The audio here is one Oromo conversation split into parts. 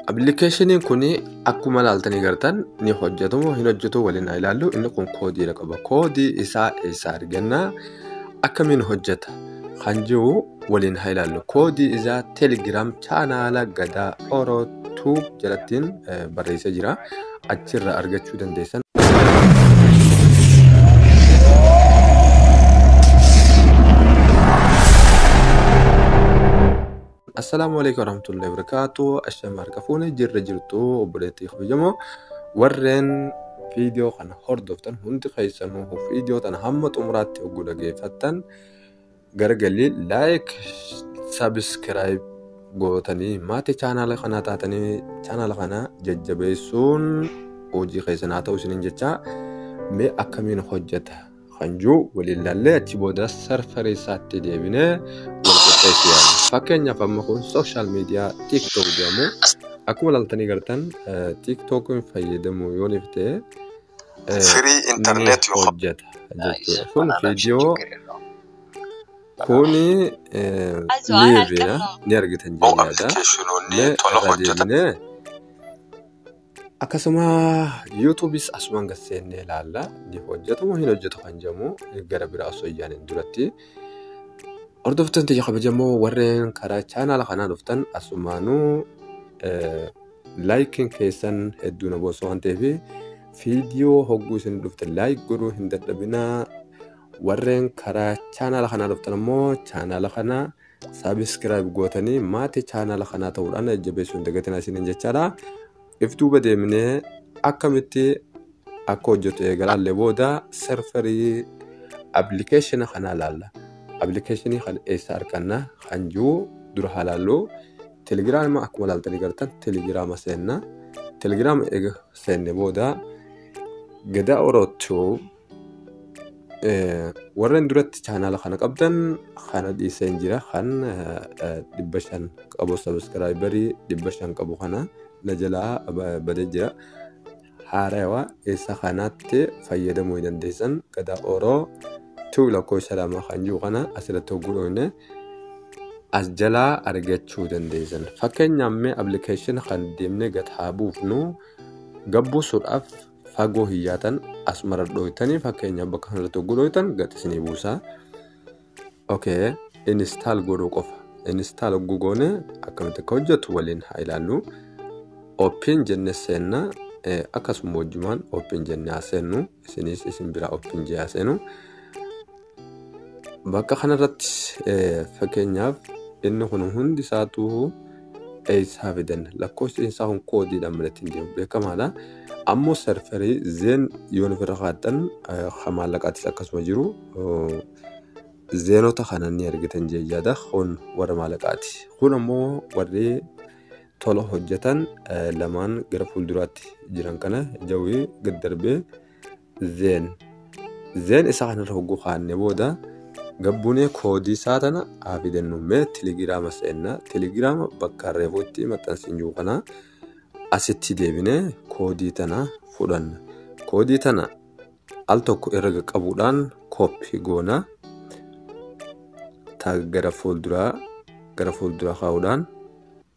Appilikeeshiniin kun akkuma ilaaltanii gartan ni hojjetu moo hin hojjetu waliin haa ilaallu. Inni kun koodiidha qaba. Koodii isaa eessaa arganna? Akkamiin hojjeta? Kan jiru waliin haa ilaallu. Koodii isaa Telegram chaanaala Gadaa Oro Tube jalattiin eh, barreessee jira. Achirraa argachuu dandeessan. Assalaamu alaikum warahmatullahi wabarakatuh. Asham harka fuune jirra jirtu obboleettii kabajamoo warreen viidiyoo kana hordoftan hundi keessanuu viidiyoo tana hamma xumuraatti oguu dhageeffattan gargalii laayik sabiskiraayib gootanii maatii chaanaala kanaa taatanii chaanaala kana jajjabeessuun hojii keessan haa ta'u isiniin jechaa mee akkamiin hojjeta kan jiru waliin laallee achi booda sarfarii isaatti deebinee wal qixxeessu yaala. Fakkeenyaaf amma kun sooshaal miidiyaa TikTok jedhamu akkuma laaltanii gartan TikTokiin fayyadamu yoo dhiftee Free ni internet you have. hojjeta jechuudha. Kun viidiyoo kuni liiviidha ni argitan Hoo jedhee yaada. appilikeeshinoonni Mee tola irra hojjetan. deebinee Akkasuma yuutuubis asumaan gad seennee ilaalla. Ni hojjetu moo hin hojjetu kan jedhamu gara biraa osoo hin yaaniin duratti. Hordoftoonni tiyya kabajamoo warreen karaa chaanaala kanaa dhuftan asumaanuu laayikiin keessan hedduu na boonsa waan ta'eef viidiyoo hogguu isin dhufte laayik godhuu hin dadhabinaa. Warreen karaa chaanaala kanaa dhuftan ammoo chaanaala kana Subscribe gootanii maatii chaanaala kanaa ta'uudhaan na jajjabeessuu hin dagatinaa isiniin jechaadha. If duuba deemnee akkamitti akka hojjetu eegalaallee booda serverii appilikeeshina kanaa laalla. Appilikeeshinii kana eessa arganna kan jiru dura haa laallu. Telegiraama akkuma laaltanii gartan telegiraama seenna. Telegiraama eega seenne booda gadaa orootuu warreen duratti chaanaala kana qabdan kana dhiiseen jira kan dhibba shan qabu sabiskiraayibarii dhibba shan qabu kana na jalaa badee jira haarawa isa kanaatti fayyadamuu hin dandeessan gadaa oroo tuu lakkoofsa lama kan jiru kana asirratti hogguu dhoofne as jalaa argachuu dandeessan fakkeenyaaf mee appilikeeshin kan deemnee gad haa buufnu gabbuusuudhaaf Fagoo hin yaatan as mara dhooytanii fakkeenyaaf bakka kanarratti hogguu dhooytan gad isinii buusa. Okay, install godhuu qofa. Install hogguu goone akkamitti akka hojjetu waliin haa ilaallu. Open jenne seenna eh, akkasuma wajjumaan open jenne haa seennu isinis isin bira open jee haa seenu. Bakka kanarrattis fakkeenyaaf inni kun hundi isaatuu eessaa fidan lakkoofsi isaa kun koodiidhaan malattiin deemu beekamaadha. Ammoo sarfarii zeen yoon ofirra kaa'attan kan maallaqaattis akkasuma jiru zeenota kana ni argitan jechaadha. Kun warra maallaqaati. Kun ammoo warri tola hojjetan lamaan gara fuulduraatti jiran kana jawwee gad darbee then then isa kanarra hogguu kaanne booda gabbunee koodii isaa tana haa fidannu mee telegiraama seenna telegiraama bakka reefuu itti maxxansiin jiru kana asitti deebinee koodii tana fudhanna koodii tana al tokko irra qaqqabuudhaan kooppi goona taag gara fuulduraa gara fuulduraa kaa'uudhaan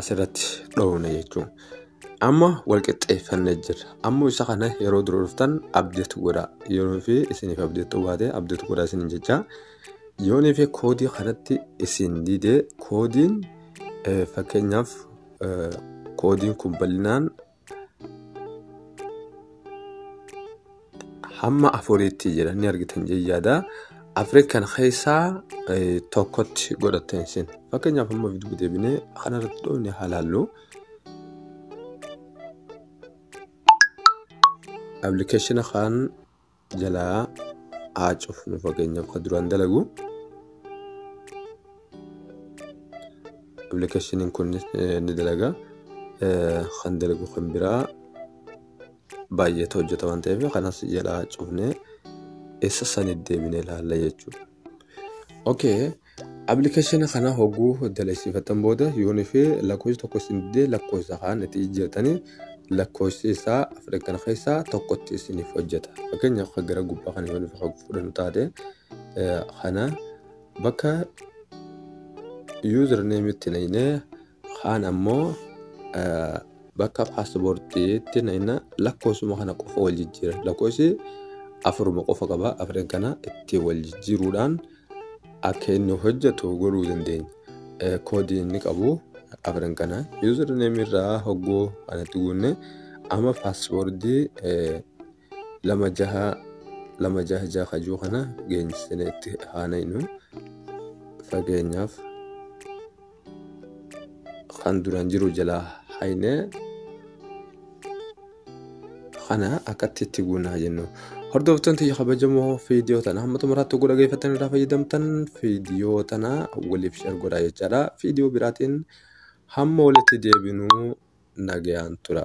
asirratti dhoofna jechuun amma wal qixxeeffannee jirra ammoo isa kana yeroo dura dhuftan abdeet godha yeroo fi isiniif abdeet baate abdeet godha isin jecha yoonii fi koodii kanatti isin didee koodiin fakkeenyaaf koodiin kun bal'inaan hamma afuriitti jedhanii argitan jayyaada afri kan keessaa eh, tokkotti godhatten isin fakkeenyaaf hamma viiduu deebinee kanarratti dhoofne halaallu appilikeeshina kan jalaa haa cufnu fakkeenyaaf kan duraan dalagu appilikeeshiniin kun ni dalaga kan dalagu kan biraa baay'eetu hojjeta waan ta'eef kanas jalaa cufnee eessa sanii deebinee ilaalla jechuudha. Okay. Appilikeeshina kana hogguu dalagsiifattan booda yoon fi lakkoofsi tokko isin didee lakkoofsa kaan itti jijjiirtanii lakkoofsi isaa afran kana keessaa tokkotti isiniif hojjeta. Fakkeenyaaf kan gara gubbaa kana yoon fi fudhannu taate eh, kana bakka yuuzar neemitti naynee Kaan ammoo bakka paaspoortiitti nayna lakkoofsuma kana qofa wal jijjiira. Lakkoofsi afuruma qofa qaba. Afreen kana itti wal jijjiiruudhaan akka inni hojjetu godhuu dandeenya. Koodii inni qabu afreen kana yuuzarneemii irraa hogguu kanatti guunne amma paaspoortii lama jaha lama jaha jaha kajuu kana geenyisnee itti haanaynu fakkeenyaaf. kan duraan jiru jalaa hayne kana akkatti itti guunaa jennu. Hordoftoonni tiyya kabajamoo viidiyoo tana hamma xumuraatti oguu dhageeffattan irraa fayyadamtan viidiyoo tana waliif share godhaa jechaadha. Viidiyoo biraatiin hamma walitti deebinuu nagayaan tura.